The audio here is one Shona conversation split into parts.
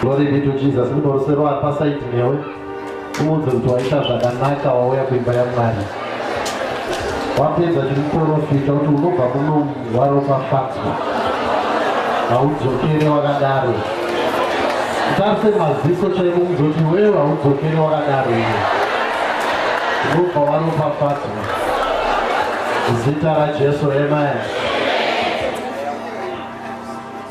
Glory be to Jesus. Munorusero ari pasaidi newe. Umuudze kuti waita zvakanaka wauya kuimba yaMwari. Wapedza chikuporofita kuti unobva kuno waropafadzwa. Haudzokere wakadaro. Tarise maziso chaiko muzoti wewe haudzokere wakadaro iwe. Unobva waropafadzwa. Zita raJesu, amen.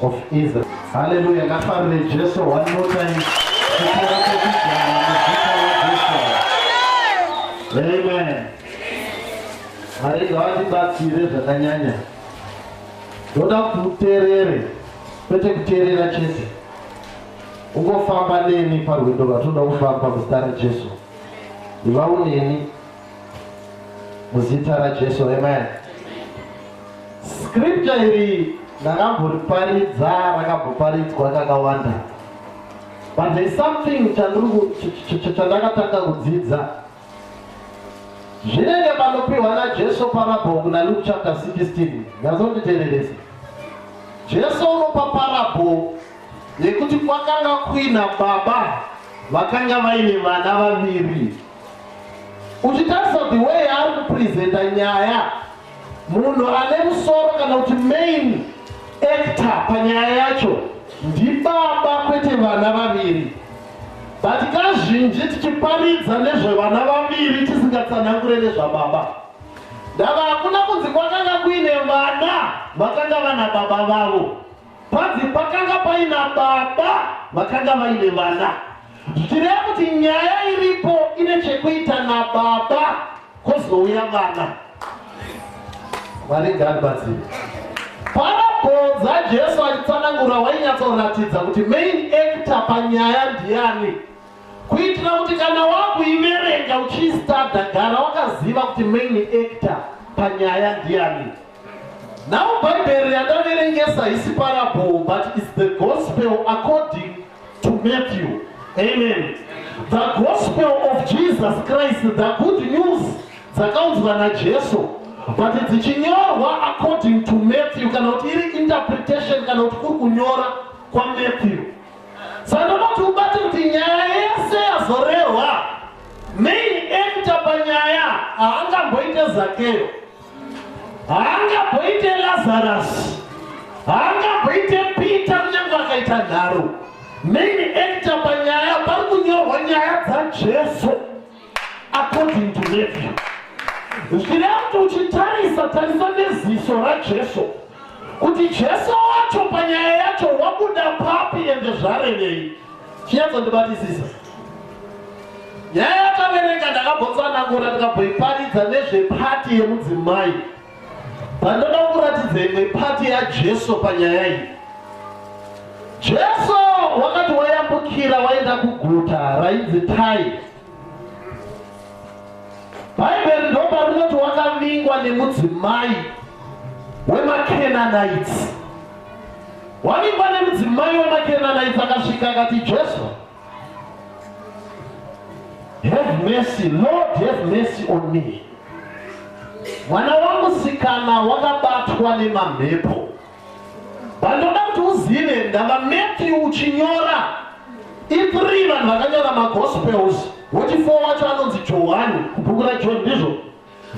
of Israel. Hallelujah. Ngafarire Jesu one more time. Amen. Mwari ngavatibatsire zvakanyanya. Ndoda kuti uterere, kwete kuterera chete. Ungofamba neni parwendo rwatinoda kufamba muzita raJesu. Ndiva uneni. muzita rajesu amen scripture iri ndakamboriparidza rakamboparidzwa kakawanda but there's something chandakatanga kudzidza zvinenge panopiwa najesu parabho kuna luke chapter 16 nyazonditereresa jesu unopa parabho yekuti kwakanga kuina baba vakanga vaine vana vaviri uchitarisa the way ari kupresenta nyaya munhu ane musoro kana kuti main actor panyaya yacho ndibaba kwete vana vaviri but kazhinji tichiparidza nezvevana vaviri tisingatsanangure nezvababa ndava hakuna kunzi kwakanga kuine vana vakanga vana baba vavo Panzi pakanga paina baba vakanga vaine vana zvichireva kuti nyaya iripo ine chekuita nababa kozouya vana vari garibatsiri parabhodza jesu achitsanangura wainyatsoratidza kuti main actor panyaya ndiani kuitira kuti kana wakuiverenga uchiistada gara wakaziva kuti main actor panyaya ndiani Now Bible yandaverengesa haisi parable but it's the gospel according to Matthew. Amen. The gospel of Jesus Christ, the good news dzakaunzwa naJesu but dzichinyorwa according to Matthew kana kuti iri interpretation kana kuti kuri kunyora kwaMatthew. Saka ndoda kuti ubate kuti nyaya yese yazorehwa main actor panyaya haangamboite zakeyo haangaboite lazarus haangaboite peter kunyange akaita nharo main actor panyaya pari kunyorwa nyaya dzajesu according to nephew zvireva kuti uchitarisa tarisa neziso rajesu kuti jesu wacho panyaya yacho wabuda papi ende zvarevei chinyatsondibatisisa nyaya yakaverenga ndakambotsanangura ndikabhoiparidza nezvepati yemudzimai pandoda kuratidza imwe pati yajesu panyaya iyi jesu wakati wayambukira waenda kuguta rainzi tai bhaibheri ndopa rinoti wakavingwa nemudzimai wemakenanaitsi wavingwa nemudzimai wemakenanaitsi akasvika akati jesu Have mercy, Lord have mercy on me. Mwana wangu sikana wakabatwa nemamhepo. Vandoda kuti uzive ndava Matthew uchinyora. Ipri vanhu vakanyora magospels. Woti four wacho anonzi Johani, kubhuku raJohn ndizvo.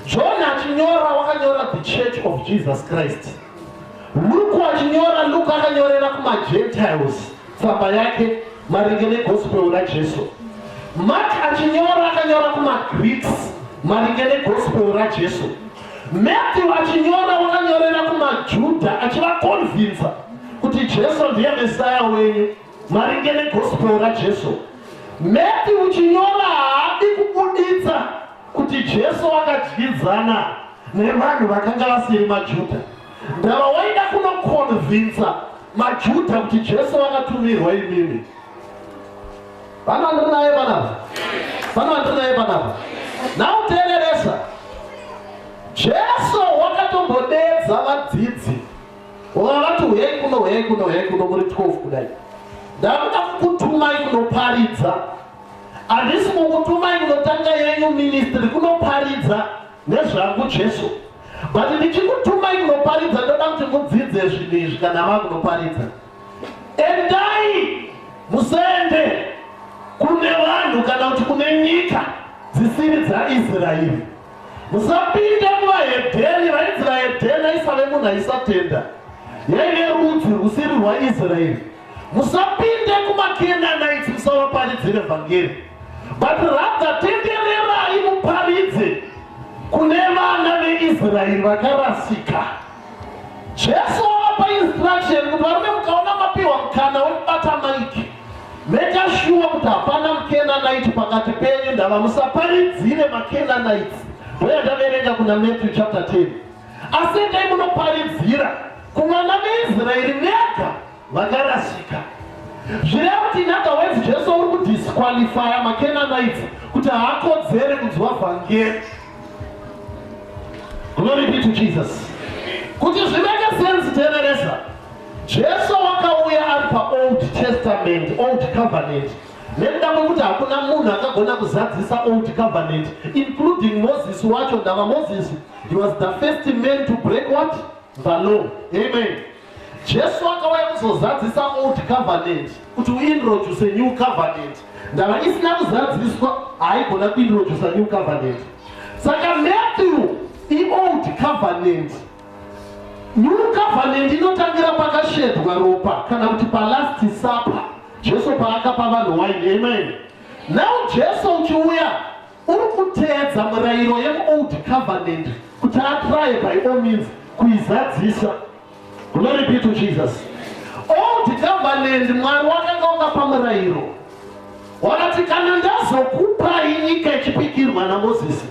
John achinyora wakanyora the church of Jesus Christ. Luke achinyora Luke akanyorera kumaGentiles tsamba yake maringe negospel raJesu. Mark achinyora akanyora kumaGreeks maringe negospel raJesu. Matthew achinyora wakanyorera kumaJuda achivakonvinza kuti Jesu ndiye Messiah wenyu. Maringe neGospel raJesu, Matthew chinyora haadi kubuditsa kuti Jesu akadyidzana nevanhu vakanga vasiri maJuda. Ndava waida kunokonvinsa maJuda kuti Jesu akatumirwa imimi. Vana vandiri naye panapa? Vana vandiri naye panapa? Now teereresa. Jesu wakatombodedza vadzidzi Vona vati huyai kuno, huyai kuno, huyai kuno, muri 12 kudai. Ndakuda kukutumai kunoparidza. Handisi kukutumai kunotanga yenyu ministry kunoparidza nezvangu Jesu. But ndichikutumai kunoparidza ndoda kuti mudzidze zvinhu izvi kana mava kunoparidza. Endai musende kune vanhu kana kuti kune nyika dzisiri dzaIsraeri. Musapinde muvaHedheni, vainzi vaHedheni aisave munhu aisatenda, yaive rudzi rusiri rwaIsraeri. Musapinde kumaKenanaiti musavaparidzire vhangeri, but rather tendererai muparidze kune vana veIsraeri vakarasika. Jesu wavapa instruction kuti varume mukaona mapiwa mukana wekubata maiki Maker sure kuti hapana muKenanite pakati penyu, ndava musaparidzire maKenanites voya ndaverenga kuna Matthew chapter 10 asi endai munoparidzira kuvana veIsraeri vega vakarasika zvireva kuti in other words jesu uri kudisqualifya maKenanite kuti haakodzere kunzwa vhangeri glory be to Jesus kuti zviveke sense teveresa Jesu wakauya ari paOld Testament, Old Covenant, nekuda kwekuti hakuna munhu akagona kuzadzisa Old Covenant, including Moses wacho ndava Moses. He was the first man to break what? The law. Amen. Jesu akauya kuzozadzisa Old Covenant, kuti uintroduce New Covenant. Ndava isina kuzadziswa, haigona kuintroduce New Covenant. Saka Matthew, iOld Covenant. New covenant inotangira pakashedwa ropa kana kuti palast supper Jesu paakapa vanhu wine. Amen. Now Jesu uchiuya uri kuteedza murayiro yemuold covenant kuti atraye by all means kuizadzisa. Glory be to Jesus. Old covenant Mwari wakanga wakapa murayiro wakati kana ndazokupai nyika ichipikirwa naMozisi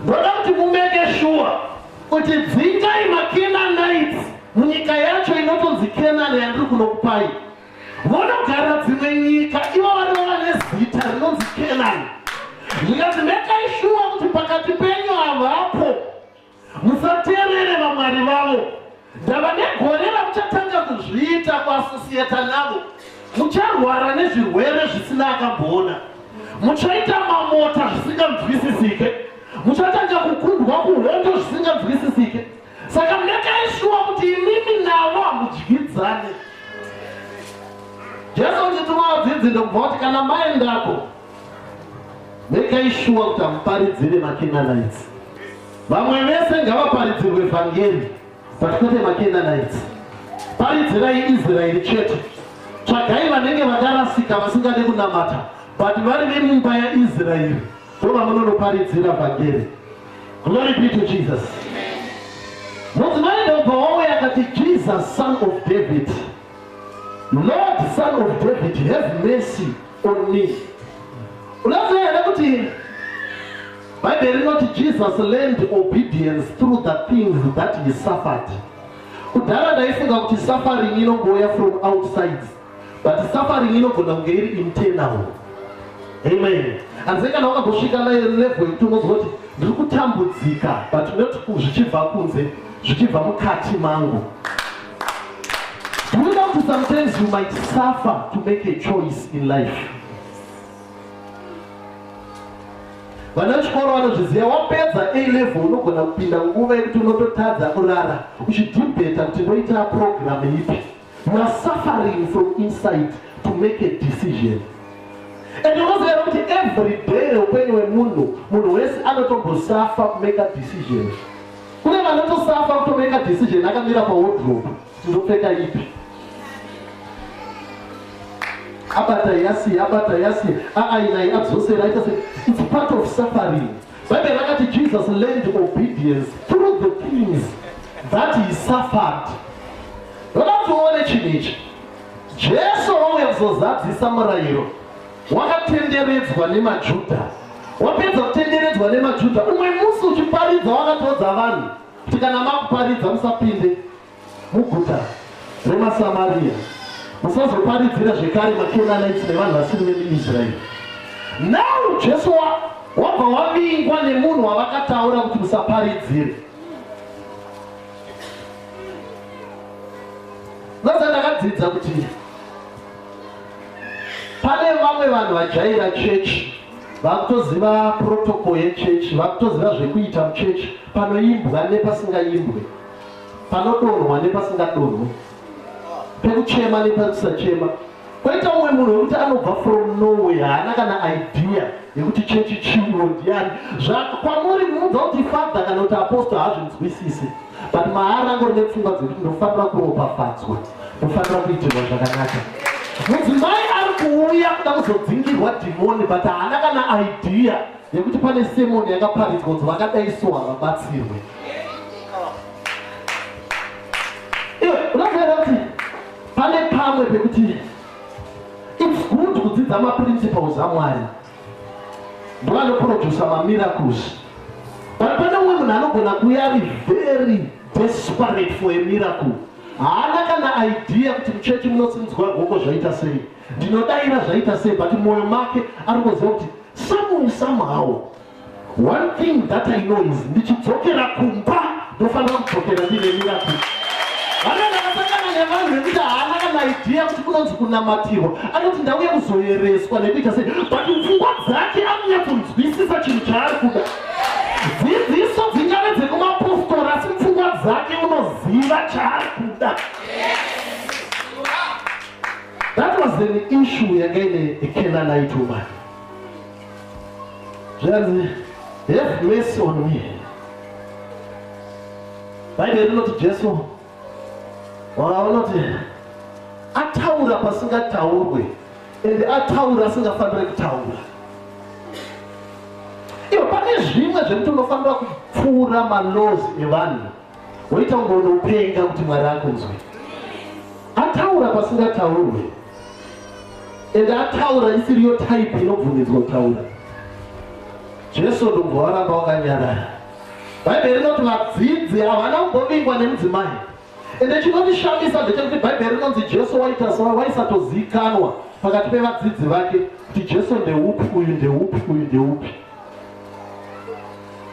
Ndoda kuti mumeke shuwa kuti dzingai maKenanites munyika yacho inotonzi Kenani yandiri kunokupai, vonogara dzimwe nyika ivo vari vava nezita rinonzi Kenani. Ndikati mekai shuwa kuti pakati penyu havapo musateerere vamwari vavo. Ndava negore ramuchatanga kuzviita kuasosiyeta navo. Mucharwara nezvirwere zvisina akamboona. Muchaita mamota zvisinganzwisisike. Muchatanga kukundwa kuhondo zvisinganzwisisike. Saka mekai shuwa kuti imimi navo hamudyidzane. Jesu ndituma vadzidzi ndokubva kuti kana maendako Regai shuwa kuti hamuparidzire maKenanites. Vamwe vese ngavaparidzirwe vhangeri, but kwete maKenanites. Paridzirai Israeri chete. Tsvagai vanenge vakarasika vasingade kunamata, but vari vemumba yaIsraeri ndo vamunonoparidzira vhangeri. Glory be to Jesus. Mudzimai ndobva wauya akati Jesus son of David. Lord son of David have mercy on me. Unaziva here kuti Bible rinoti Jesus learned obedience through the things that he suffered. Kudhara ndaifunga kuti suffering inongouya from outside but suffering inogona kunge iri internal. Amen. Asi kana wakambosvika naye level yekuti unozwa kuti ndiri kutambudzika but not zvichibva kunze zvichibva mukati mangu. Do you know to sometimes you might suffer to make a choice in life? vana vechikoro vanozviziva wapedza a level unogona kupinda nguva yekuti unototadza kurara uchidhibheta kuti ndoita program ipi you are suffering from inside to make a decision and unoziva kuti every day reupenyu wemunhu munhu wese anotombosafa kumake a decision kune vanotosafa kutomeka decision akamira pawodrobe ndopfeka ipi abata yasi abata yasi aainai adzosera aita se its part of suffering bhaibheri rakati jesus learned obedience through the things that he suffered vakatione chinhu ichi jesu wauya kuzozadzisa murayiro Wakatenderedzwa nemaJuda. Wapedza kutenderedzwa nemaJuda, umwe musi uchiparidza wakatoudza vanhu kuti kana makuparidza musapinde muguta remaSamaria, musazoparidzira zvekare maKenanites nevanhu vasiri vemuIsraeri. Now Jesu wabva wavingwa nemunhu wavakataura kuti musaparidzire. Sasa ndakadzidza kuti Pane vamwe vanhu vajaira chechi vakutoziva protocol yechechi vakutoziva zvekuita muchechi panoimbwa nepasingaimbwe panodonhwa nepasingadonhwe pekuchema nepakusachema kwaita umwe munhu wekuti anobva from norway haana kana idea yekuti chechi chiwo ndiyani zvakwamuri muudza kuti father kana kuti apostle hazvinzwisise but maari angori nepfungwa dzekuti ndofanira kuropafadzwa kufanira kuitirwa zvakanaka mudzimai ari kuuya kuda kuzodzingirwa dhimoni but haana kana idea yekuti pane semoni yakaparidzwa kuti vakadai so havabatsirwe unoziva kuti pane pamwe pekuti its good kudzidza maprinciples amwari ndovanoprodusa mamiracles but pane umwe munhu anogona kuya ari very desperate for a miracle Haana kana idea kuti muchechi munosimudzwa ruoko zvaita sei. Ndinodaira zvaita sei but moyo make ari kuziva kuti someone somehow one thing that I know is ndichidzokera kumba ndofanira kudzokera ndine miracle. Vanenge vakasangana nevanhu vekuti haana kana idea kuti kunonzi kunamatirwa. Anoti ndauya kuzoyereswa nekuita sei but pfungwa dzake anonyatso nzwisisa chinhu chaari kuda. dzidziso dzingave dzekumapostora asi pfungwa dzake unoziva chaari kuda that was an issue yanga ine ekenanite woman zvanzi have mercy on me bhaibheri rinoti jesu wakaona kuti ataura pasingataurwe ende ataura asingafanire kutaura iyo pane zvimwe zvekuti unofanira kupfuura malozi evanhu woita kunge unopenga kuti mwari akunzwe ataura pasingataurwe ende ataura isiriyo type inobvumidzwa kutaura jesu ndobva waramba wakanyarara Bhaibheri rinoti vadzidzi havana kumbovingwa nemudzimai. Ende chinondishamisa ndechekuti Bhaibheri rinonzi Jesu waita so waisatozikanwa pakati pevadzidzi vake kuti Jesu ndeupi uyu ndeupi uyu ndeupi.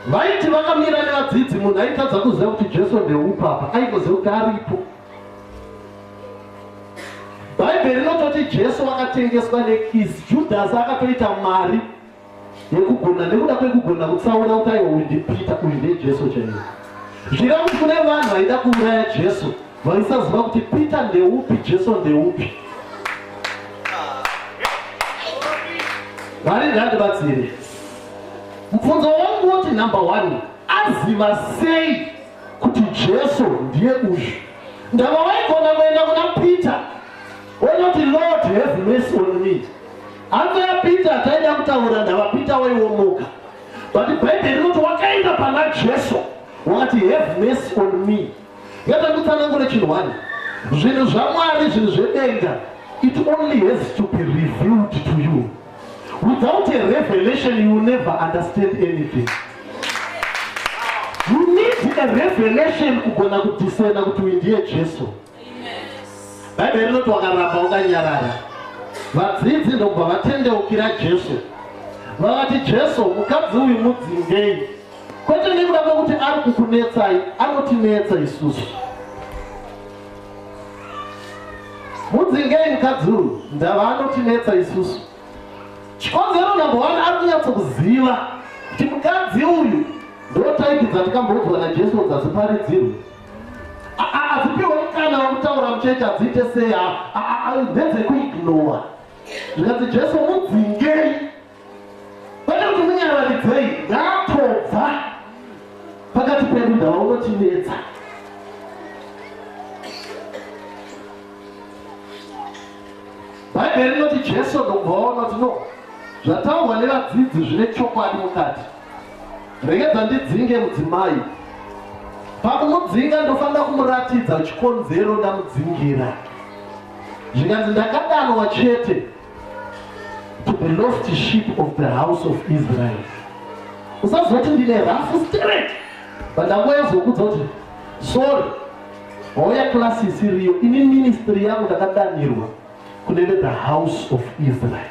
Vaiti vakamira nevadzidzi munhu aitadza kuziva kuti Jesu ndeupi apa aingoziva kuti aripo. Bhaibheri rinototi Jesu wakatengeswa nekisi, Judhasi akatoita mari yekugona nekuda kwekugona kutsaura kuti aiwa uyu ndipita uyu ndejesu chaiye zvira kuti kune vanhu vaida kuuraya jesu vaisaziva kuti peter ndeupi jesu ndeupi vari ngandibatsire mubvunzo wangu woti number one aziva sei kuti jesu ndiye uyu ndava waigona kuenda kuna peter onoti lord have mercy on me Hanza ya Peter taida kutaura ndava Peter waiwomoka. But Bible rinoti wakaenda pana Jesu wakati have mercy on me. Yata kutsanangura chinhu wani. Zvinhu zvaMwari zvinhu zvedenga it only has to be revealed to you. Without a revelation you will never understand anything. You need a revelation kugona kudisena kuti uyu ndiye Jesu. bhaibheri rinoti wakaramba ukanyarara vadzidzi ndokubva vatendeukira jesu vakati jesu mukadzi uyu mudzingei kwete nekuda kwekuti ari kukunetsai anotinetsa isusu mudzingei mukadzi uyu ndava anotinetsa isusu chikonzero number one ari kunyatsokuziva kuti mukadzi uyu ndotaipi dzatikamboudzwa najesu dzaziparidzirwe adzipiwe mukana wekutaura muchechi adziite sei ndedzekuignowa zvikanzi jesu mudzingei kwete kuti munyararidzei ngatobva pakati pedu ndava unotinetsa bhaibheri rinoti jesu ndokubva waona kuti no zvataurwa nevadzidzi zvine chokwadi mukati Regedza ndidzinge mudzimai. Pakumudzinga ndofanira kumuratidza chikonzero ndamudzingira. Zvikanzi ndakadanwa chete to the lost sheep of the house of Israel. Usazoti ndine rough spirit. Pandangoya zokudza kuti sorry. Hoya class isiriyo ini ministry yangu ndakadanirwa kunenge the house of Israel.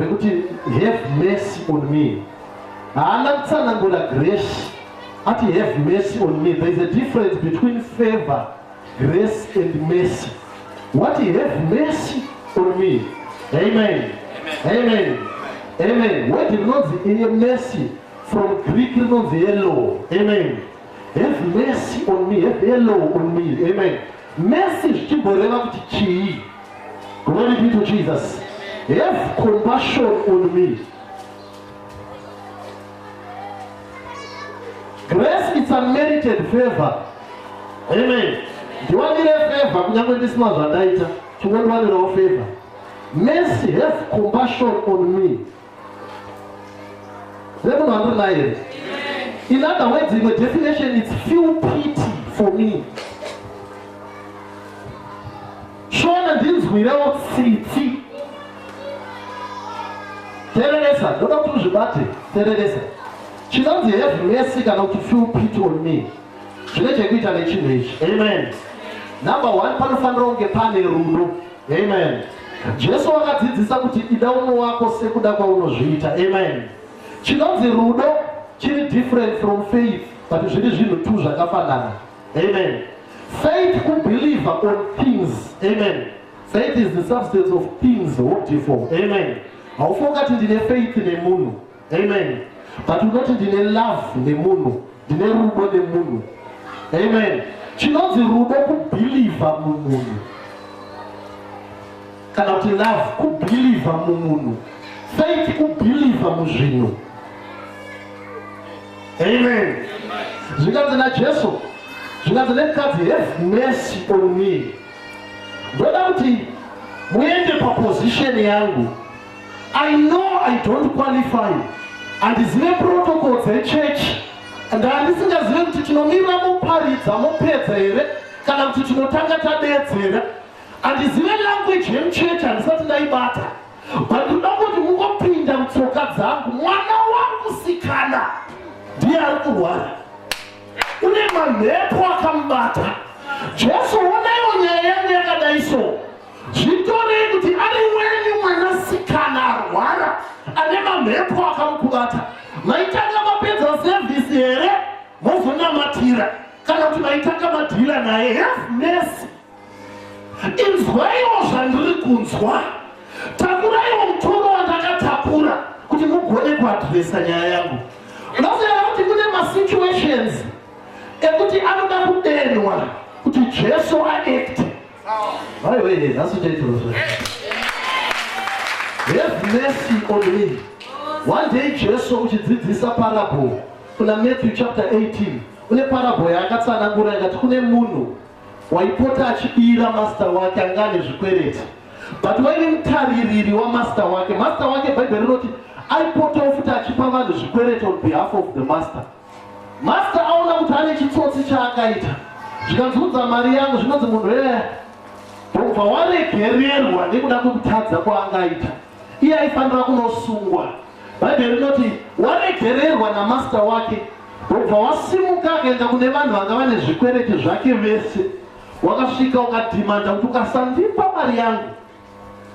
rekuti have mercy on me haana kutsanangura grace ati have mercy on me there is a difference between favor grace and mercy what have mercy on me amen amen amen word rinonzi iye mercy from greek rinonzi yellow amen have mercy on me have yellow on me amen mercy zvichimboreva kuti chii Glory be to Jesus. Have compassion on me. Grace is unmerited favor. Amen. Ndiwanire favor kunyange ndisina zvandaita. Chingondwanirawo favor. Mercy have compassion on me. Semunhu wandiri naye here? In other words, imwe definition it's feel pity for me. Shona ndinzwirewo tsitsi. Tereresa, ndoda kuti uzvibate, tereresa. Chinonzi have mercy kana kuti feel pity on me. zvine chekuita nechinhu ichi amen number one panofanira kunge pane rudo amen jesu wakadzidzisa kuti ida umwe wako sekuda kwaunozviita amen chinonzi rudo chiri different from faith but zviri zvinhu two zvakafanana amen faith kubelieve on things amen faith is the substance of things hoped for amen haufa ungati ndine faith nemunhu Amen. But unoti ndine love nemunhu, ndine rudo nemunhu. Amen. Chinonzi rudo kubhilivha mumunhu kana kuti love kubhilivha mumunhu, faith kubhilivha muzvinhu. Amen. Zvinganzi naJesu, zvinganzi nemukadzi, have mercy on me. Ndoda kuti muende paposition yangu I know I don't qualify handizive protocol dzechurch and handisingazive kuti tinomira moparidza mopedza here kana kuti tinotanga tadeedzera handizive language yemuchurch handisati ndaibata but ndoda kuti mungopinda mutsoka dzangu mwana wangu sikana ndiye ari kurwara une mamhepo akamubata jesu onaiwo nyaya yangu yakadai soo Zvitorei kuti ari wenyu mwanasikana arwara ane mamhepo akamukubata, maitanga mapedza sevhisi here mozonamatira kana kuti maitanga madhila naye? Have mercy, inzwaiwo zvandiri kunzwa, takuraiwo mutoro wandakatakura kuti mugone kuadhiresa nyaya yangu. Unoziva kuti kune masituations ekuti anoda kudenwa kuti Jesu aekte Vai, vai, vai, não sujei tudo. Have mercy on me. One day Jesu uchidzidzisa parable kuna Matthew chapter 18 une parable yaakatsanangura ikati kune munhu waipota achibira master wake anga ane zvikwereti but waive mutaririri wamaster wake master wake bhaibheri rinoti aipotawo futi achipa vanhu zvikwereti on behalf of the master Master aona kuti ane chitsotsi chaakaita zvikanzunza mari yangu zvinonzi munhu ee ndobva waregererwa nekuda kwekutadza kwaangaita iye aifanira kunosungwa bhaibheri rinoti waregererwa namasta wake ndobva wasimuka akaenda kune vanhu vanga vane zvikwereti zvake vese wakasvika ukadhimanda kuti ukasandipa mari yangu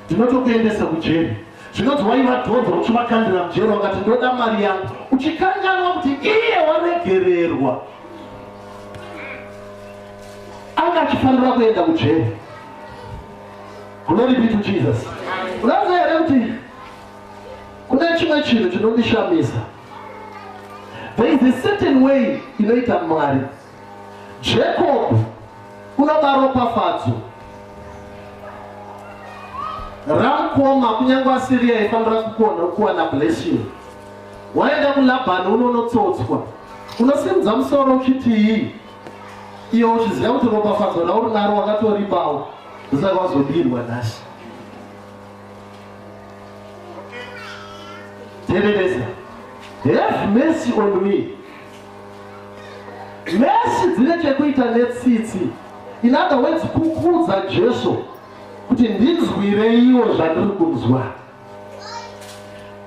Ndinotokuendesa kujeri. Zvinonzi waiva dhonzo uchivakandira mujeri wakati ndoda mari yangu uchikanganwa kuti iye waregererwa anga achifanira kuenda kujeri. Glory be to Jesus. Unaziva here kuti kune chimwe chinhu chinondishamisa. There is a certain way inoita Mwari. Jacob unoda ropafadzo ramukoma kunyange asiri yaifanira kukona kuwana blessing waenda kulabhani unonotsotswa unosimudza musoro uchiti iyi iyo uchiziva kuti ropafadzo rauri naro wakatoripawo ndosaka wazobirwa nhasi tereresa have mercy on me Nhasi dzine chekuita netsitsi. In other words, kukuudza Jesu kuti ndinzwireiwo zvandiri kunzwa.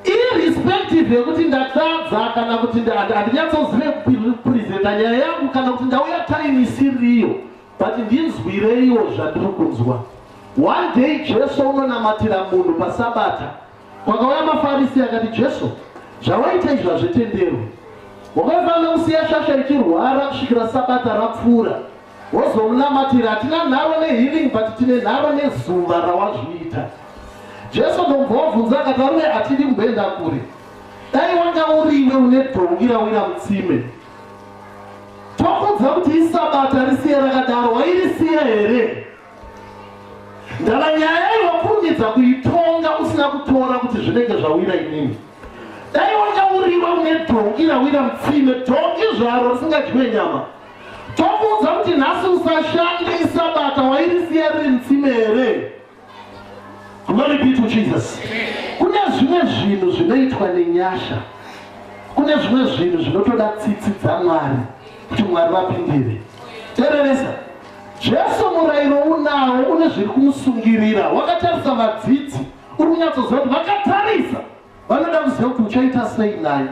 Irrespective yekuti ndatadza kana kuti handinyatsozive kupresenta nyaya yangu kana kuti ndauya time isiriyo but ndinzwireiwo zvandiri kunzwa. One day Jesu unonamatira munhu pasabata Kwakauya maFarisi akati, Jesu, zvawaita izvi hazvitenderwi. Wakaifanira kusiya shasha ichirwara kusvikira sabata rapfuura, wozomunamatira. Hatina nharo nehealing but tine nharo nezuva rawazviita. Jesu ndomva wabvunza akati, arume hatidi kumboenda kure. Dai wanga uriwe une dhongi rawira mutsime. Tokuudza kuti isabata risiye rakadaro, wairisiya here? ndava nyaya iyo wakurumidza kuitonga usina kutora kuti zvinenge zvawira inini dai wakauriwa une dhongi rawira mutsime dhongi zvaro risingadyiwe nyama tokuudza kuti nhasi usashande isabata wairisiya riri mutsime here glory be to jesus kune zvimwe zvinhu zvinoitwa nenyasha kune zvimwe zvinhu zvinotoda tsitsi dzamwari kuti mwari vapindire tereresa Jesu murayiro unawo une zviri kumusungirira. Wakatarisa vadzidzi, uri kunyatsoziva kuti vakatarisa vanoda kuziva kuti uchaita sei naye.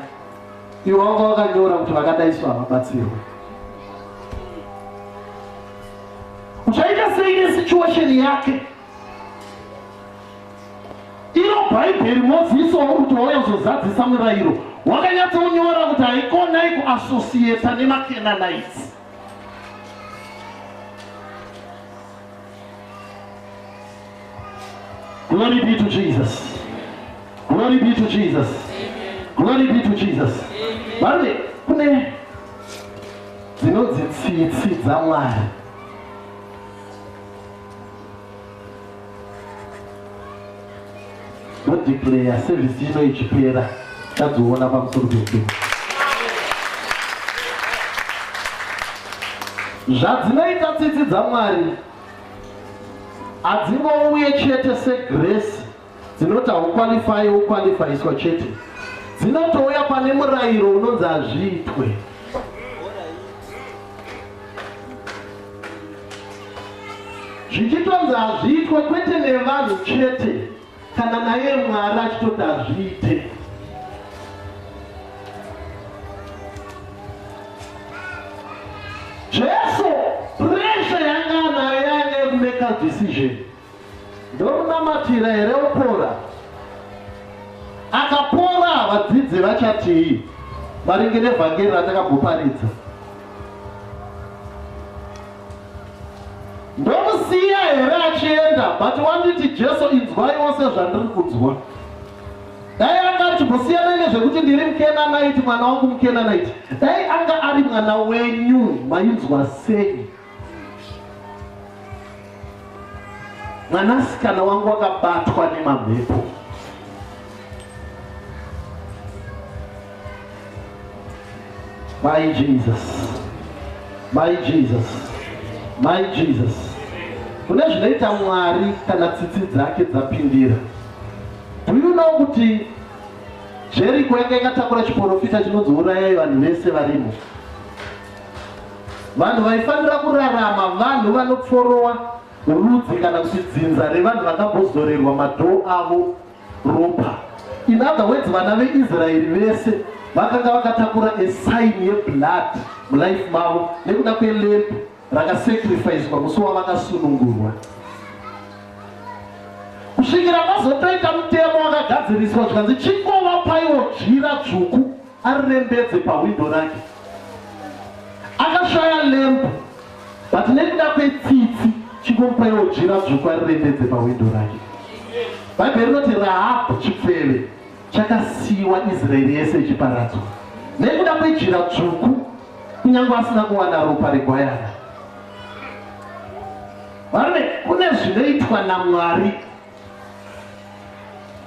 Iwe wanga wakanyora kuti vakadai so havabatsirwe. Uchaita sei nesituation yake? Iro Bhaibheri Mozisi wauri kuti wauya kuzozadzisa murayiro wakanyatsokunyora kuti haikonai kuasosiyeta nemakenanaiti. Glory be to Jesus. Glory be to Jesus. Glory be to Jesus. Bari kune dzinodzi tsitsi dzaMwari. ndodeclare service ino ichipera tadziona pamusoro pedu zvadzinoita tsitsi dzamwari hadzingouye chete segresi dzinoti haukwalifaye wokwalifaiswa chete dzinotouya pane murayiro unonzi hazviitwe zvichitonzi hazviitwe kwete nevanhu chete kana naye mwari achitoti hazviite jesu presha yanga anayo yanga yekumeka decision Ndomunamatira here opora? Akapora vadzidzi vachatii maringe nevhangeri ratakabhoparidza? Ndomusiya here achienda but wanditi Jesu inzwai wose zvandiri kunzwa? Dai anga achimbosiyana nezvekuti ndiri mukenanaiti mwana wangu mukenanaiti, dai anga ari mwana wenyu mainzwa sei mwanasikana wangu wakabatwa nemamhepo mai jesus mai jesus mai jesus kune zvinoita mwari kana tsitsi dzake dzapindira do you know kuti jeriko yanga yakatakura chiporofita chinonzi urayayo vanhu vese varimo Vanhu vaifanira kurarama vanhu vanopforowa rudzi kana kuti dzinza revanhu vakambozorerwa madhoo avo ropa. In other words, vana veIsraeri vese vakanga vakatakura a sign yeblood mulife mavo nekuda kwelamb rakasacrificwa musi wavakasunungurwa kusvikira mazotoita mutemo wakagadziriswa zvikanzi chingovapaiwo dzvira dzvuku arembedze pahwindo rake akashaya lembu but nekuda kwetsitsi chingomupaiwo jira dzvuku arirembedze pahwindo rake bhaibheri rinoti rahabhu chipfeve chakasiyiwa israeri yese ichiparadzwa nekuda kwejira dzvuku kunyange asina kuwana ropa regwayana varume kune zvinoitwa namwari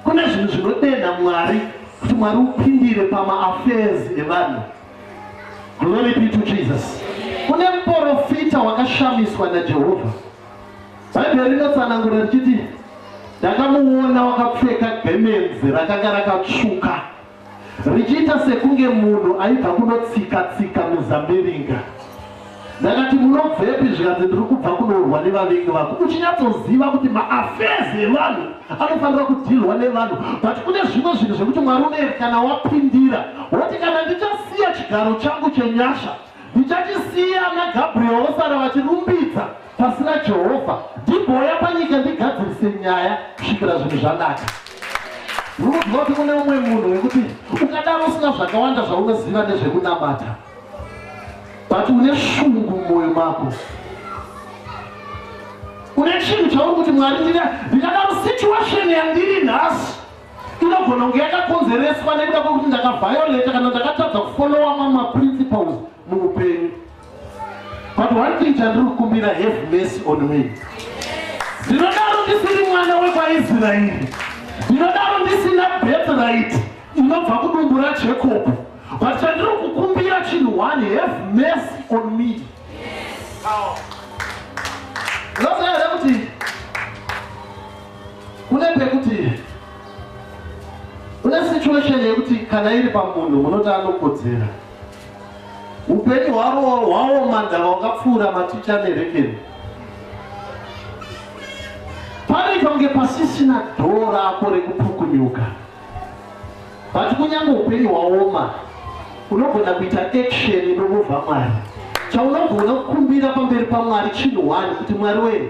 kune zvinhu zvinodenha mwari kuti mwari upindire pamaaffairs evanhu glory be to jesus kune muporofita wakashamiswa najehovha bhaibheri rinotsanangura richiti ndakamuona wakapfeka gemenzi rakanga rakatsvuka richiita sekunge munhu aibva kunotsika-tsika muzambiringa. Ndakati, munobvepi? Zvikanzi, ndiri kubva kunourwa nevavengi vako. Uchinyatsoziva kuti maafezi evanhu anofanira kudhilwa nevanhu, but kune zvimwe zvinhu zvekuti Mwari uneeri kana wapindira woti kana ndichasiya chigaro changu chenyasha ndichachisiya naGabriel vosara vachirumbidza Pasina Jehovha ndimbouya panyika ndigadzirise nyaya kusvikira zvinhu zvanaka. Unoziva kuti kune umwe munhu wekuti ukadaro usina zvakawanda zvaunoziva nezvekunamata but une shungu mumwoyo mako une chinhu chauri kuti mwari ndikadaro situation yandiri nhasi inogona kunge yakakonzereswa nekuda kwekuti ndakavhioleta kana ndakatadza kufolowa mamwe maprinciples muupenyu but one thing chandiri kukumbira have mercy on me ndinodaro ndisiri mwana wekwaisraeri ndinodaro ndisina bethright inobva kudumbu rajacob but chandiri kukumbira chinhu one have mercy on me ndosaae kuti kune pekuti kune situation yekuti kana iri pamunhu munoti anokodzera Upenyu hwavo hwaoma ndava wakapfuura maticha nerekeni. Pane pange pasisina dhoo rako rekupukunyuka. But kunyange upenyu hwaoma unogona kuita action inomuvha Mwari. Chaunogona kukumbira pamberi paMwari chinhu one kuti Mwari wee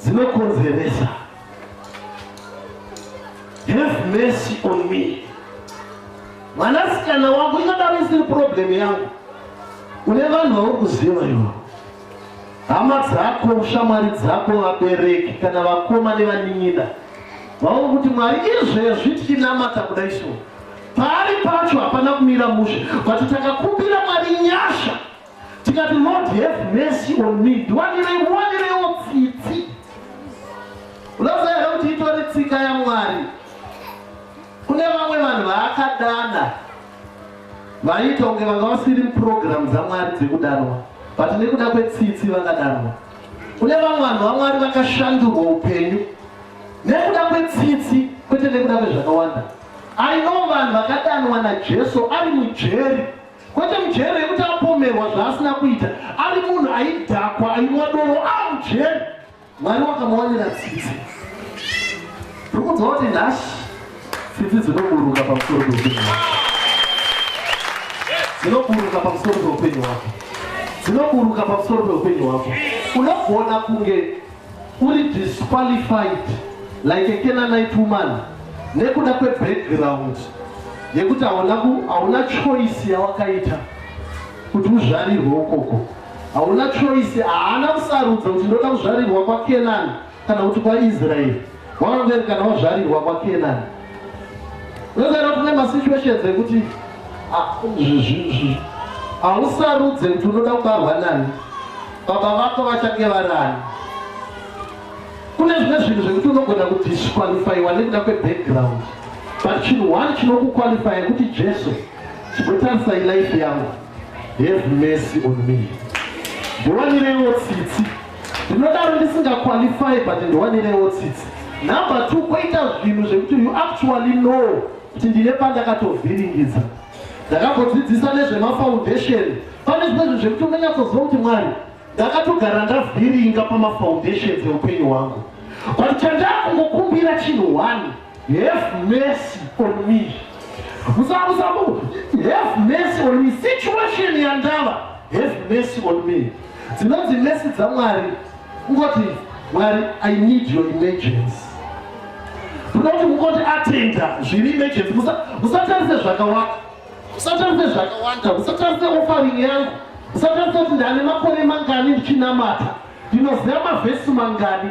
dzinokonzeresa have mercy on me mwanasikana wangu ingadaro isiri problem yangu une vanhu vauri kuziva ivo hama dzako shamwari dzako vabereki kana vakoma nevanin'ina vauri kuti mwari izvezvi tichinamata kudai so Paari pacho hapana kumira mushe but takakumbira Mwari nyasha tikati Lord have mercy on me ndiwanirei muwanireiwo tsitsi unoziva here kuti itori tsika yaMwari kune vamwe vanhu vaakadana vaiita kunge vanga vasiri muprogramu dzaMwari dzekudanwa but nekuda kwetsitsi vakadanwa kune vamwe vanhu vamwari vakashandurwa upenyu nekuda kwetsitsi kwete nekuda kwezvakawanda I know vanhu vakadanwa naJesu ari mujeri kwete mujeri yekuti apomerwa zvaasina kuita ari munhu aidhakwa ainwa doro a mujeri mwari wakamuwanira tsitsi tiri kunzwa kuti nhashi tsitsi dzinoburuka pamusoro peupenyu wako dzinoburuka pamusoro peupenyu wako dzinoburuka pamusoro peupenyu wako unogona kunge Uri disqualified like a Canaanite woman nekuda kwe background yekuti hauna ku hauna choice yawakaita kuti uzvarirwe ukoko hauna choice haana kusarudza kuti ndoda kuzvarirwa kwa Canaan kana kuti kwa Israel Waonzeni kana wazvarirwa kwaKenani? Unozana kuti kune masituations ekuti hausarudze kuti unoda kubarwa nani, baba vako vachange varani. Kune zvimwe zvinhu zvekuti unogona kudisqualifyiwa nekuda kwebackground but chinhu one chinokuqualifya kuti Jesu chinotarisai life yangu have mercy on me ndiwanireiwo tsitsi ndinodaro ndisinga qualify but ndiwanirewo tsitsi number two koita zvinhu zvekuti you actually know kuti ndine pandakatovhiringidza ndakambodzidzisa nezvemafoundation pane zvimwe zvinhu zvekuti unonyatsoziva kuti mwari ndakatogara ndavhiringa pamafoundation eupenyu hwangu but chandakungokumbira chinhu one have mercy on me musamusamu have mercy on me situation yandava have mercy on me Dzinonzi mesi dzaMwari kungoti Mwari I need your emergency. Kunoti kungoti atenda zviri emergency musatarise zvakawanda. Musatarise zvakawanda, musatarise offering yangu. Musatarise kuti ndane makore mangani ndichinamata. Ndinoziva mavhesi mangani.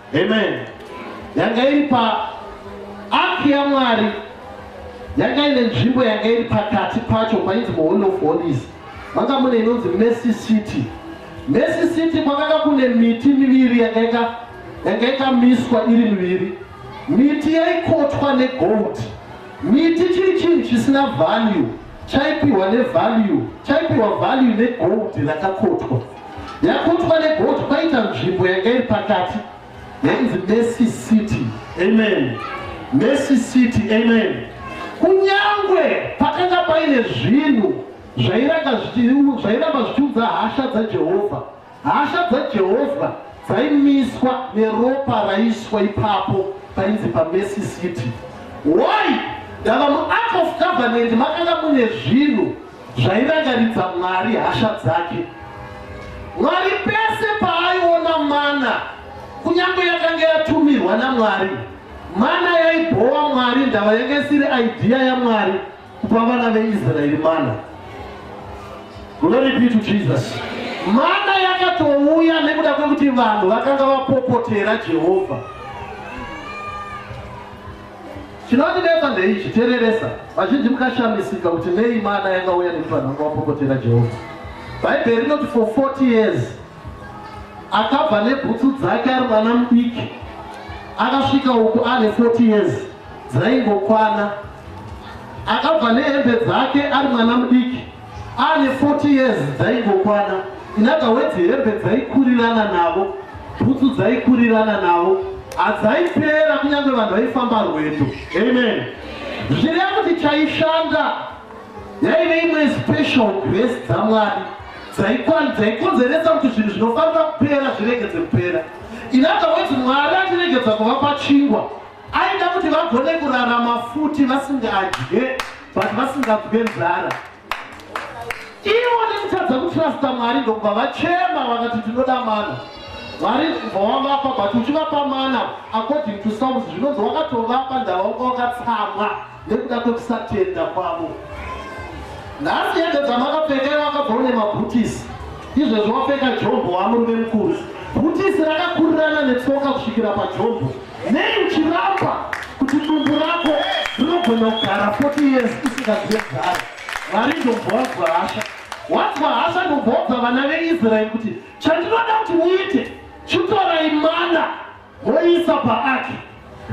Amen. Yanga iri pa ark yaMwari yanga ine nzvimbo yanga iri pakati pacho painzi muhall of holies manga mune inonzi mercy city mercy city kwakanga kune miti miviri yanga yakamiswa iri miviri miti yaikotwa negold miti chiri chinhu chisina value chaipiwa nevalue chaipiwa value negold rakakotwa yakotwa negoti kwaita nzvimbo yanga iri pakati yainzi mercy city amen mercy city amen kunyangwe pakanga paine zvinhu zvairamba zvichiudza hasha dzajehovha hasha dzajehovha dzaimiswa neropa raiswa ipapo painzi pamercy city why ndava muact of government makanga mune zvinhu zvairangaridza Mwari hasha dzake. Mwari pese paaiona mana, kunyange yakange yatumirwa naMwari, mana yaibhowa Mwari ndava yanga isiri idea yaMwari kupa vana veIsraeri mana. Glory be to Jesus. Mana yakatouya nekuda kwekuti vanhu vakanga vapopotera Jehovha. Chinondinetsa ndeichi, tereresa. Vazhinji mukashamisika kuti nei mana yanga uya nekuti vanhu vanga vapokotera Jehovha. Bhaibheri rinoti for 40 years akabva nebhutsu dzake ari mwana mudiki akasvika uku ane 40 years dzaingokwana akabva nehembe dzake ari mwana mudiki Ane 40 years dzaingokwana. Inaga wedzi hembe dzaikurirana navo, bhutsu dzaikurirana navo. Hadzaipera kunyange vanhu vaifamba rwedo. Amen. Zviri yakuti chaishanda yaive imwe special grace dzaMwari dzaikonzeresa kuti zvinhu zvinofanira kupera zviregedze kupera. Inaga wedzi Mwari atiregedza kuvapa chingwa. Aida kuti vagone kurarama futi vasingadye but vasinganzwe nzara. Ivo nekutadza kutrasta Mwari ndokubva vachema vakati tinoda mana. Mwari kubva wavapa but uchivapa mana according to Psalms zvinonzi wakatovapa ndavanga wakatsamwa. nekuda kwekusatenda kwavo. Nhasi hembe dzamakapfeka iwe wakabva une mabhutisi, izvezvi wapfeka jombo wamurume mukuru. Bhutisi rakakurirana netsoka kusvikira pajombo. Nei uchiramba kuti dumbu rako rinogona kugara 40 years usingazive garo? Mwari ndombowanzwa hasha, wanzwa hasha ndomboudza vana veIsraeri kuti chandinoda kuti muite chitorai mana Voisa paaki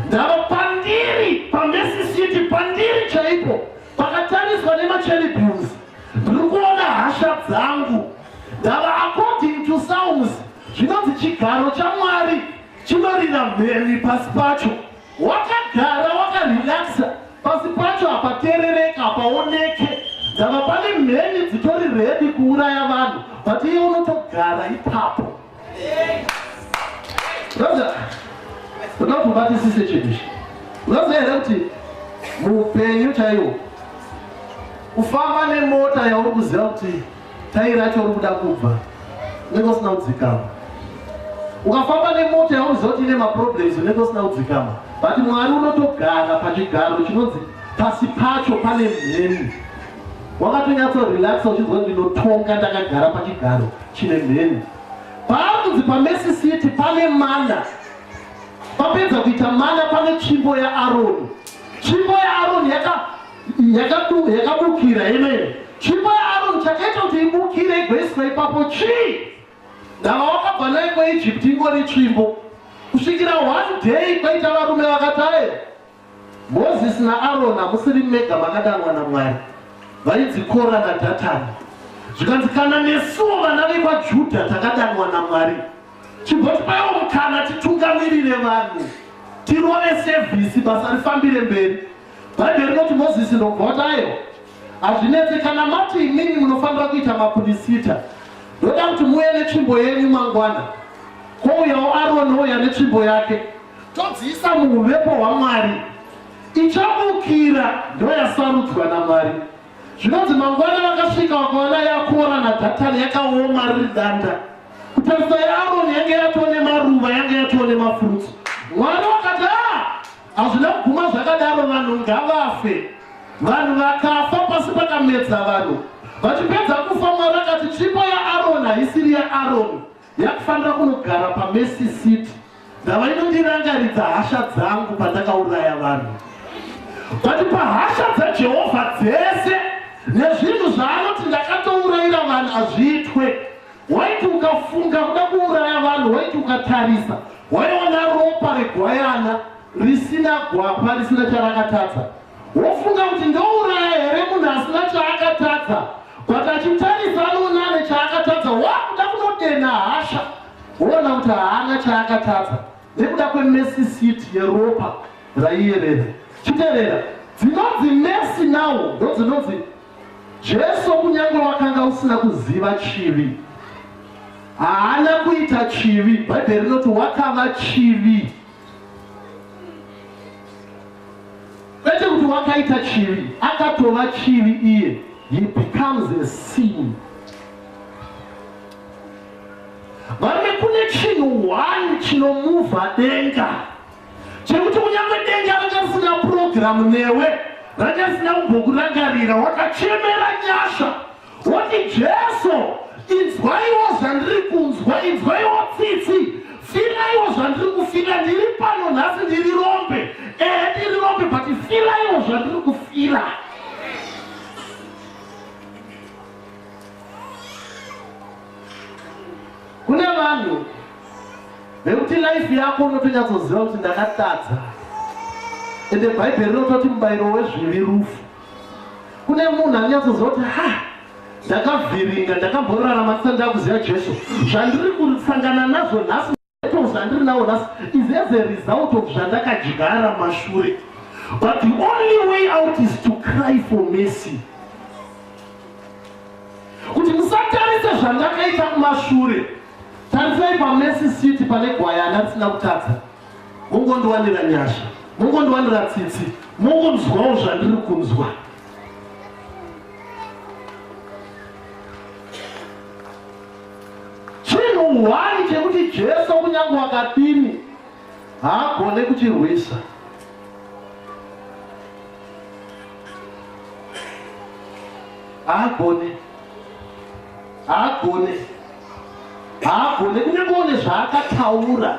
ndava pandiri paMercy City pandiri chaipo pakatariswa nemacherubins ndiri kuona hasha dzangu ndava according to sounds zvinonzi chigaro chamwari chinorira mheni pasi pacho wakagara wakarelaxa pasi pacho hapaterereka hapaoneke ndava pane mheni dzitori redi kuuraya vanhu but iye unotogara ipapo Roza, unokubatisise chinhu ichi. Unoziva here kuti muupenyu chaiwo kufamba nemota yauri kuziva kuti tairi racho uri kuda kubva unenge usina kudzikama ukafamba nemota yauri kuziva kuti ine maproblems unenge usina kudzikama but mwari unotogara pachigaro chinonzi pasi pacho pane mheni Wakatonyatso relaxa uchinzwa ndinotonga ndakagara pachigaro chine mheni. Paari kunzi paMercy City pane mana. Papedza kuita mana pane tsvimbo yaAroni. Tsvimbo yaAroni yakabukira yemene. Tsvimbo yaAroni chakaita kuti ibukire igoiswa ipapo chii? Ndava wakabva naye kweEgypt ingori tsvimbo. Kusvikira one day kwaita varume vakataera Mozisi naAroni hamusiri mega makadanwa naMwari. Vainzi Kora naDhatani. Zvikanzi kana nesuwo vana vekwaJudha takadanwa naMwari, chibvotipaiwo mukana titungamirire vanhu, tirove sevhisi, basa rifambire mberi. Bhaibheri rinoti Mozisi ndobvotayo. Hazvinetse kana mati imimi munofanira kuita mapurisita. Ndoda kuti muuye netsvimbo yenyu mangwana. Kwouyawo Aroni ouya netsvimbo yake. todziisa muuvepo hwaMwari. Ichabukira ndoyasarudzwa naMwari. Zvinonzi mangwana vakasvika vakaona yakora naDhatani yakaoma riri danda. Kutarisa yaAroni yange yatoo nemaruva yange yatoo nemafurutsu. Mwari wakati ah, hazvina kuguma zvakadaro, vanhu ngavafe. Vanhu vakafa pasi pakamedza vanhu. Vachipedza kufa, Mwari akati chipo yaAroni haisiri yaAroni Yakufanira kunogara pa Mercy Seat ndava inondirangaridza hasha dzangu pandakauraya vanhu. But pahasha dzaJehovha dzese nezvinhu zvaanoti ndakatouraira vanhu hazviitwe. Waiti ukafunga kuda kuuraya vanhu waiti ukatarisa waiona ropa regwayana risina gwapa risina charakatadza. Wofunga kuti ndouraya here munhu asina chaakatadza but achitarisa anoona ane chaakatadza wakuda kunodenha hasha woona kuti haana chaakatadza nekuda kwemesi siti yeropa raiyerera chiterera dzinonzi mesi nawo ndodzinonzi jesu kunyange wakanga usina kuziva chivi haana kuita chivi bhaibheri rinoti wakava chivi kwete kuti wakaita chivi akatova chivi iye he becomes a sin varume kune chinhu one chinomuvha denga chekuti kunyange denga rakasina purogiramu newe rakasina kumbokurangarira wakachemera nyasha Woti Jesu, inzwaiwo zvandiri kunzwa, inzwaiwo tsitsi, firaiwo zvandiri kufira, ndiri pano nhasi, ndiri rombe, ehe ndiri rombe, but firaiwo zvandiri kufira. Kune vanhu vekuti life yako unotonyatsoziva kuti ndakatadza, ende bhaibheri rinototi mubairo wezvivi rufu. kune munhu anonyatsoziva kuti ha ndakavhiringa ndakamborarama ndisati ndakuziva jesu zvandiri kusangana nazvo nhasi mato zvandiri nawo nhasi is as a result of zvandakadyara mashure but the only way out is to cry for mercy kuti musatarise zvandakaita kumashure tarisai pamesi city pane gwayana risina kutadza mungondiwanira nyasha mungondiwanira tsitsi mungonzwawo zvandiri kunzwa chinhu hwani chekuti jesu kunyange wakadini haagone kuchirwisa haagone haagone haagone kunyange one zvaakataura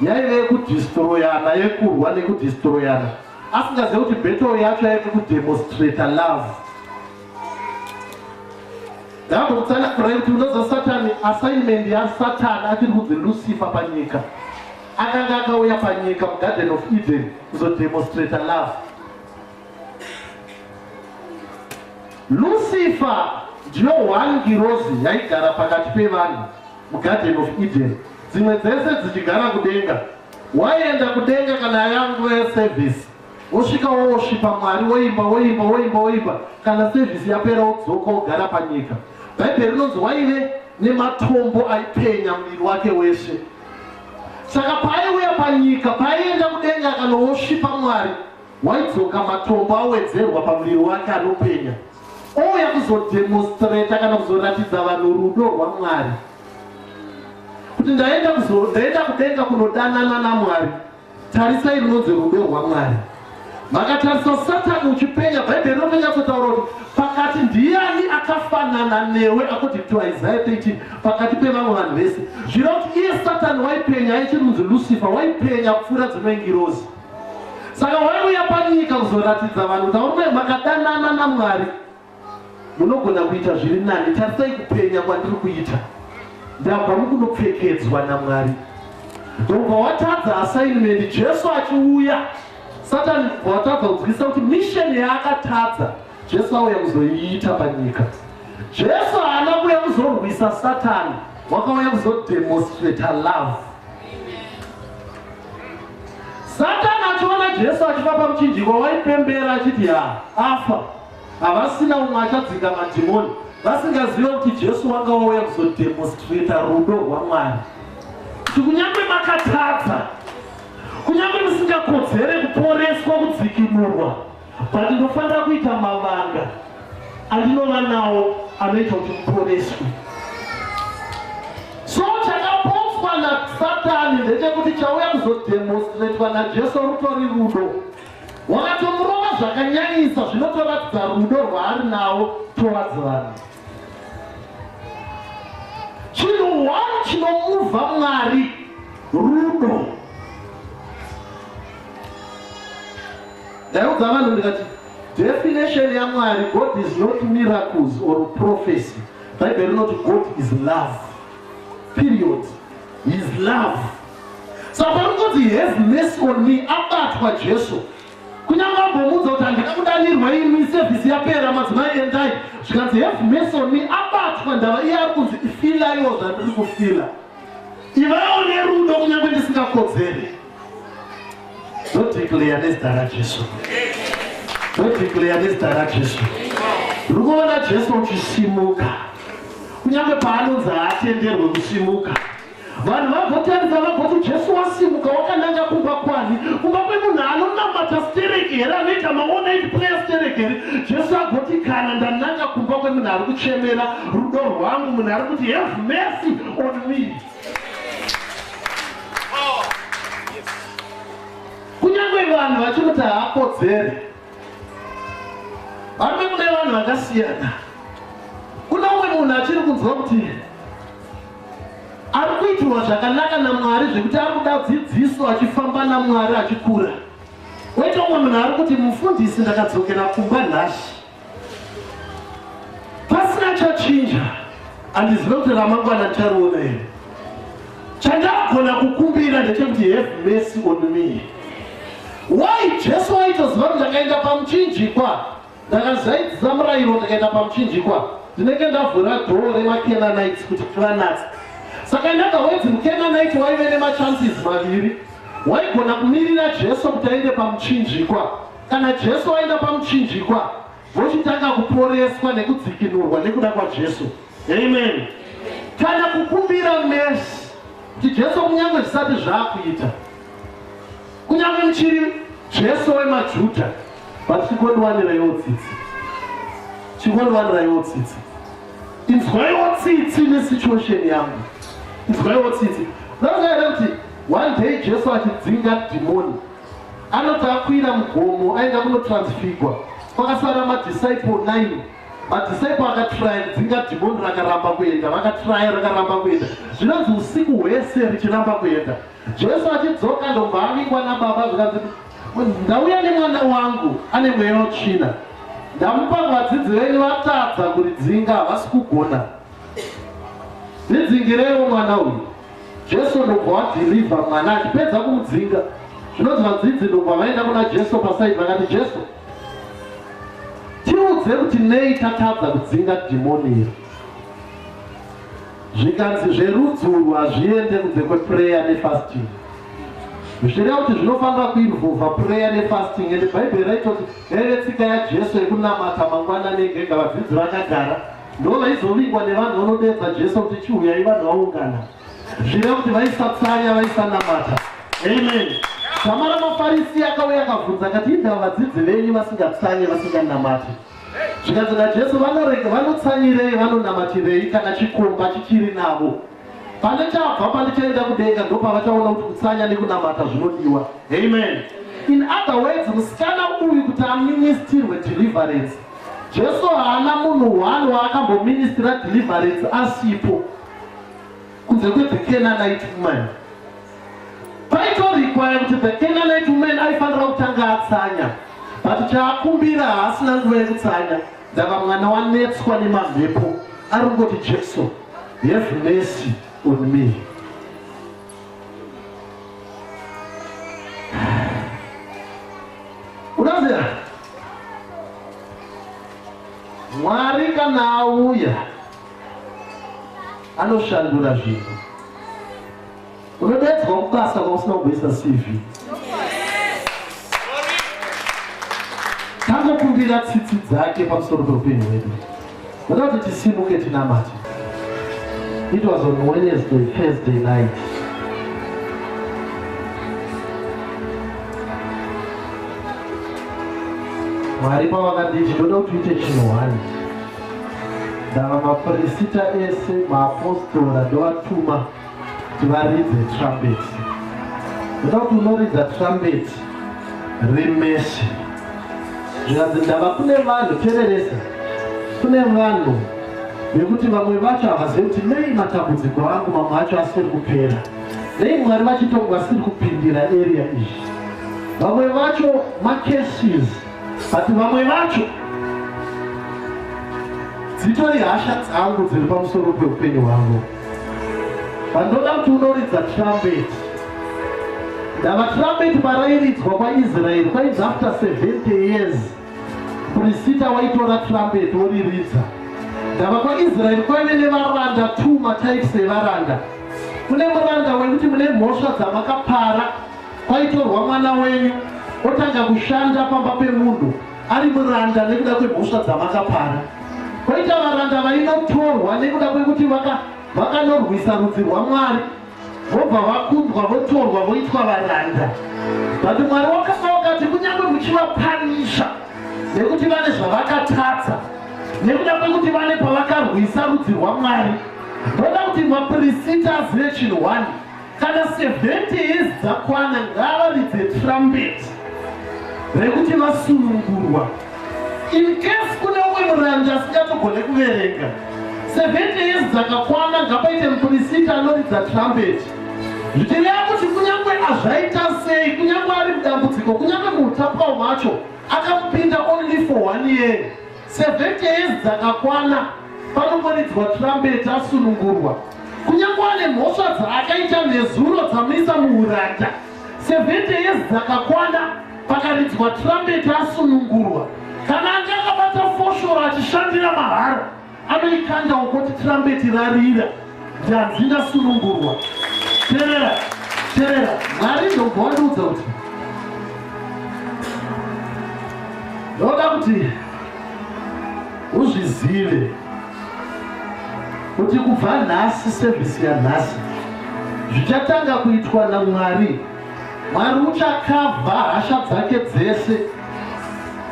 Yaive yekudhistroyana, yekurwa nekudhistroyana asingazive kuti battle yacho yaive kudemonstrata love. Ndakatokutsana kurai kuti unoziva satani assignment yasatani achiri kunzi lucifer panyika akanga akauya panyika mugarden of eden kuzodemonstrata love lucifer ndiyo one ngirozi yaigara pakati pevanhu mugarden of eden dzimwe dzese dzichigara kudenga waienda kudenga kana yanguva yeservice wosvika wosvipa mwari woimba woimba woimba woimba kana sevhisi yapera wodzoka wogara panyika bhaibheri rinonzi waive nematombo aipenya muviri wake wese saka paaiuya panyika paaienda kudenga kana wosvipa mwari waidzoka matombo awedzerwa pamuviri wake anopenya ouya kuzodemonstrata kana kuzoratidza vanhu rudo rwamwari kuti ndaenda ndaenda kudenga kunodanana namwari tarisai runonzi rudo rwamwari makatarisa satani uchipenya bhaibheri rinotonyatsotaura kuti pakati ndiani akafanana newe akuti to isaya 13 pakati pevamwe vanhu vese zvira kuti iye satani waipenya aichirunzi lucifer waipenya kupfuura dzimwe ngirozi saka waiuya panyika kuzoratidza vanhu kuti aurume makadanana namwari munogona kuita zviri nani tarisai kupenya kwandiri kuita ndabva mukunopfekedzwa namwari ndobva watadza assignment jesu achiuya satani watadza kunzwisa kuti misheni yaakatadza jesu auya kuzoiita panyika jesu haana kuya kuzorwisa satani wakauya kuzodemonstrata love Satani achiona Jesu achiva pamuchinjikwa waipembera achiti ha afa havasina umwe achadzinga madhimoni vasingazive kuti Jesu wanga wauya kuzodemonstrata rudo rwaMwari kuti kunyange makatadza kunyange musingakodzere kuporeswa kudzikinurwa but ndofanira kuita mavanga andinova nawo anoita kuti muporeswe so chakaposwa nasatani ndechekuti chauya kuzodemonstratwa najesu rutori rudo wakatomurova zvakanyanyisa zvinotoratidza rudo rwaari nawo towards vanhu chinhu one chinomuvha mwari rudo Ndaiudza vanhu ndikati definition yaMwari God is not miracles or prophecy. Bible rinoti God is love. Period. He is love. Saka parinoti have mercy on me abatwa Jesu kunyange ambomuudza kuti handina kudanirwa imi sevhisi yapera madzimai endai zvikanzi have mercy on me abatwa ndava iye ari kunzi ifila iwo zvandiri kufila ivawo nerudo kunyange ndisingakodzere Ndodeclare nezita raJesu. Ndodeclare nezita raJesu. Ndiri kuona Jesu uchisimuka. Kunyange paanonzi haatenderwe kusimuka. Vanhu vagotarisa vagoti Jesu wasimuka wakananga kumba kwani? Kumba kwemunhu anonamata stereki here anoita maonai player stereki here? Jesu agoti kana ndananga kumba kwemunhu ari kuchemera rudo rwangu munhu ari kuti have mercy on me. vanhu vachikuti haakodzere varume mune vanhu vakasiyana kuna umwe munhu achiri kunzwa kuti ari kuitirwa zvakanaka namwari zvekuti ari kuda dzidziso achifamba namwari achikura woita umwe munhu ari kuti mufundisi ndakadzokera kumba nhasi pasina chachinja handizive kuti ramangwana ndichariona here chandagona kukumbira ndechekuti have mercy on me why jesu waitoziva kuti ndakaenda pamuchinjikwa ndakazaidzisa murayiro ndikaenda pamuchinjikwa ndinenge ndavhura dhoo remakenanites kuti tivanatsa saka ndaga wedzi mukenanite waive nemachances maviri waigona kumirira jesu kuti aende pamuchinjikwa Kana Jesu vaenda pamuchinjikwa vochitanga kuporeswa nekudzikinurwa nekuda kwaJesu. Amen. Kana kukumbira mesi kuti Jesu kunyange zvisati zvakuita kunyange muchiri Jesu wemaJuda but chikondiwaniraiwo tsitsi chikondiwaniraiwo tsitsi inzwaiwo tsitsi nesituation yangu inzwaiwo tsitsi ndoaere kuti one day Jesu achidzinga dhimoni Anoti akwira mugomo aenda kunotransfigwa kwakasara madisciple 9 madisciple akatraya kudzinga dhimoni rakaramba kuenda vakatraya rakaramba kuenda zvinonzi usiku hwese richiramba kuenda jesu achidzoka ndobva avingwa nababa zvikanzi ndauya nemwana wangu ane mweya wetsvina ndamupa vadzidzi venyu vatadza kuridzinga havasi kugona ridzingireiwo mwana uyu Jesu ndobva wadhirivha mwana achipedza kumudzinga. Zvinonzi vadzidzi ndobva vaenda kuna Jesu pasaidi vakati, Jesu, tiudze kuti nei tatadza kudzinga dhimoni iri. Zvikanzi zverudzi urwu hazviende kunze kwepureya nefasting. Zvichireva kuti zvinofanira kuinvova pureya nefasting ende Bhaibheri raitoti yaive tsika yaJesu yekunamata mangwana negega vadzidzi vakagara Ndovaizovingwa nevanhu vanodeedza Jesu kuti chiuyai vanhu vaungana. Zvireva kuti vaisatsanya vaisanamata. Amen. Zama ramafarisi akauya akabvunza akati indaa vadzidzi venyu vasingatsanye vasinganamati. Zvikanzi naJesu vanorega vanotsanyirei vanonamatirei kana chikomba chichiri navo. Pane chabva pandichaenda kudenga ndopavachaona kuti kutsanya nekunamata zvinodiwa. Amen. In other words, musikana uyu kuti aministirwe deliverance. Jesu haana munhu one waakamboministira deliverance asipo kunze kwe the Canaanite woman. Paitorikwaya kuti the Canaanite woman aifanira kutanga atsanya but chaakumbira haasina nguva yekutsanya. Ndava mwana wanetswa nemamhepo ari kungoti Jesu have mercy on me. Unaziva Mwari kana auya anoshandura zvinhu. Unodeedzwa kubasa kwausina kugoisa CV. Tangokumbira tsitsi dzake pamusoro peupenyu hwedu. Unoda kuti tisimuke tinamate. It was on Wednesday, Thursday night. Mwari pavakati ndinoda kuti uite chinhu hwani. Ndava mapirisita ese, maapostora ndovatuma. tivaridze trumpet ndoda kuti unoridza trumpet remeshe zvikanzi ndava kune vanhu tereresa kune vanhu vekuti vamwe vacho havazivi kuti nei matambudziko angu mamwe acho asiri kupera nei mwari vachitongo vasiri kupindira area izvi vamwe vacho macases but vamwe vacho dzitori hasha dzangu dziri pamusoro peupenyu hwangu Vanoda kuti unoridza trumpet. Ndava trumpet parairidzwa kwaIsrael kwainzi after 70 years prisita waitora trumpet woriridza. Ndava kwaIsrael kwaive nevaranda two matypes evaranda. Kune muranda wekuti mune mhosva dzamakapara kwaitorwa mwana wenyu otanga kushanda pamba pemunhu ari muranda nekuda kwemhosva dzamakapara koita varanda vainotorwa nekuda kwekuti vakanorwisa rudzi rwamwari vobva vakundwa votorwa voitwa varanda but mwari wakanga wakati kunyange muchivapanisha nekuti vane zvavakatadza nekuda kwekuti vane pavakarwisa rudzi rwamwari voda kuti mapirisita azive chinhu one Kana 70 years dzakwana ngavaridze trumpet rekuti vasunungurwa. In case kune umwe murangi asingatogone kuverenga 70 years dzakakwana ngapaite mupurisita anoridza trumpet zvichireva kuti kunyange azvaita sei kunyange ari mudambudziko kunyange muutapwa hwacho akamupinda only for one year 70 years dzakakwana panongoridzwa trumpet asunungurwa kunyange ane mhosva dzaakaita nezuro dzamuisa muuranda 70 years dzakakwana pakaridzwa trumpet asunungurwa kana ange akabata foshoro achishandira mahara anoikanda ukoti trumpet rarira dzadzina sunungurwa terera terera mwari ndobva wandiudza kuti ndoda kuti uzvizive kuti kubva nhasi sevhisi yanhasi zvichatanga kuitwa namwari Mwari uchakavha hasha dzake dzese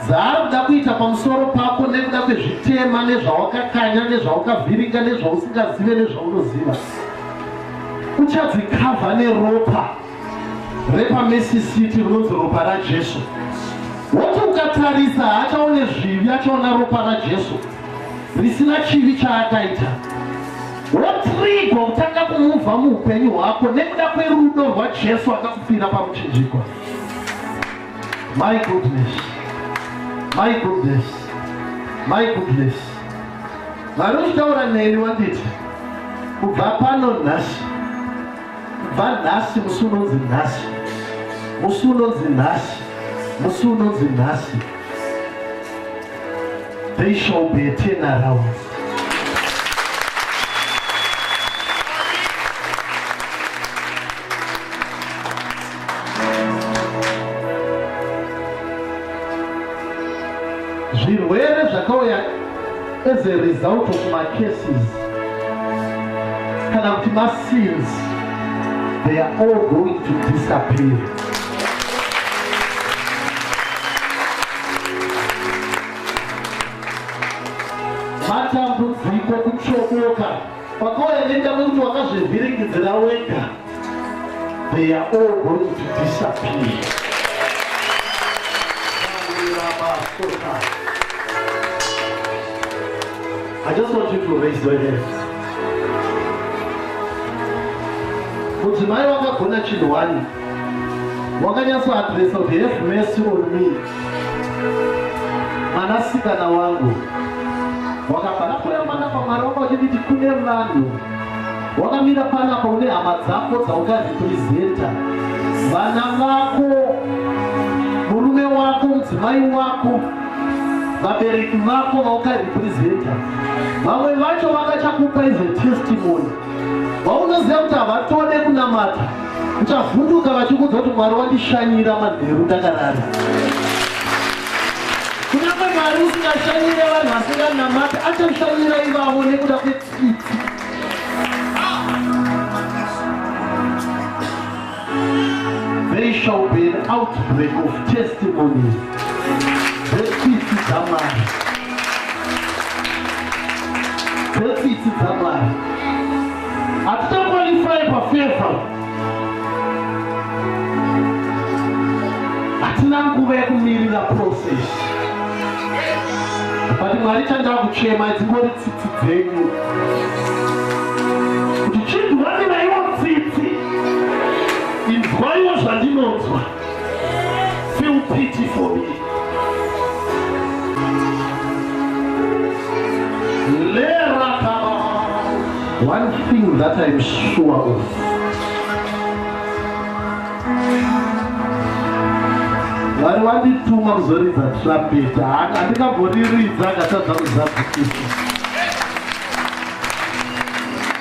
dzaari kuda kuita pamusoro pako nekuda kwezvitema nezvawakakanya nezvawakavhiringa nezvausingazive nezvaunoziva uchadzikavha neropa repamesisiti rinonzi ropa rajesu woti ukatarisa haachaone zvivi achaona ropa rajesu risina chivi chaakaita Wotrigwa kutanga kumuva muupenyu hwako nekuda kwerudo rwaJesu akakufira pamuchinjikwa. My goodness. My goodness. My goodness. Mwari uchitaura neni wanditi kubva pano nhasi kubva nhasi musi unonzi nhasi musi unonzi nhasi musi unonzi nhasi They shall be a turnaround. zvirwere zvakauya as a result of macases kana kuti masins they are all going to disappear matambudziko kutsvodoka kwakawaenenda kwekuti wakazvivhiringidzira wega they are all going to disappear I just want you to raise your hands. Mudzimai wakagona chinhu wani Wakanyatso address of have mercy on me. Mwana sikana wangu. Wakabara mwana pamwari wako uchiti kune vanhu. Wakamira pana pa une hama dzako dzaukarepresenta. Vana vako murume wako mudzimai wako vabereki vako vaukarepresenta. Vamwe vacho vakachakupa ize testimony. vaunoziva kuti havatode kunamata uchavhunduka vachikudza kuti mwari wandishanyira manheru ndakarara kunyange mwari usingashanyire vanhu vasinganamati achashanyira ivavo nekuda kwetsitsi There shall be an outbreak of testimonies. Dzetsitsi dzamwari. Dzetsitsi dzamwari. Hatichakwalifai pafevha. Hatina nguva yekumirira process. But mwari chanda kuchema dzingori tsitsi dzenyu. inzwaiwo zvandinonzwa feel pity for me one thing that I'm sure of vari vandituma kuzoridza trumpet handikamboriridza akatadza kuzadzikisa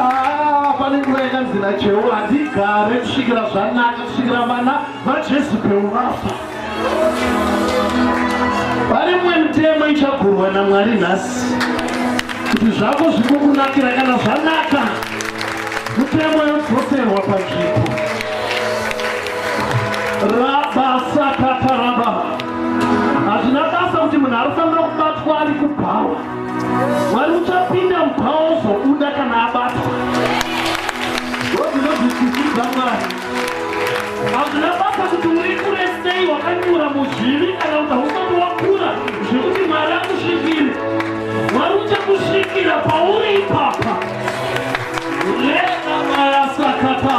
Ah, pane nguva yakanzi nacheo handigare kusvikira zvanaka kusvikira vana vajesu peurafa vari mumwe mitemo ichagurwa namwari nhasi kuti zvako zvikukunakira kana zvanaka mitemo yodzoserwa panzvimbo rabasakataraba hazvina basa kuti munhu anofanira kubatwa ari kubhawa Mwari uchapinda mubhawa ozobuda kana abatwa. Ndozvinozvisidzidza Mwari. Hazvina basa kuti uri kure sei wakanyura muzvivi kana kuti hausati wakura zvekuti Mwari akusvikire. Mwari uchakusvikira pauri ipapa. Rega maya sakata.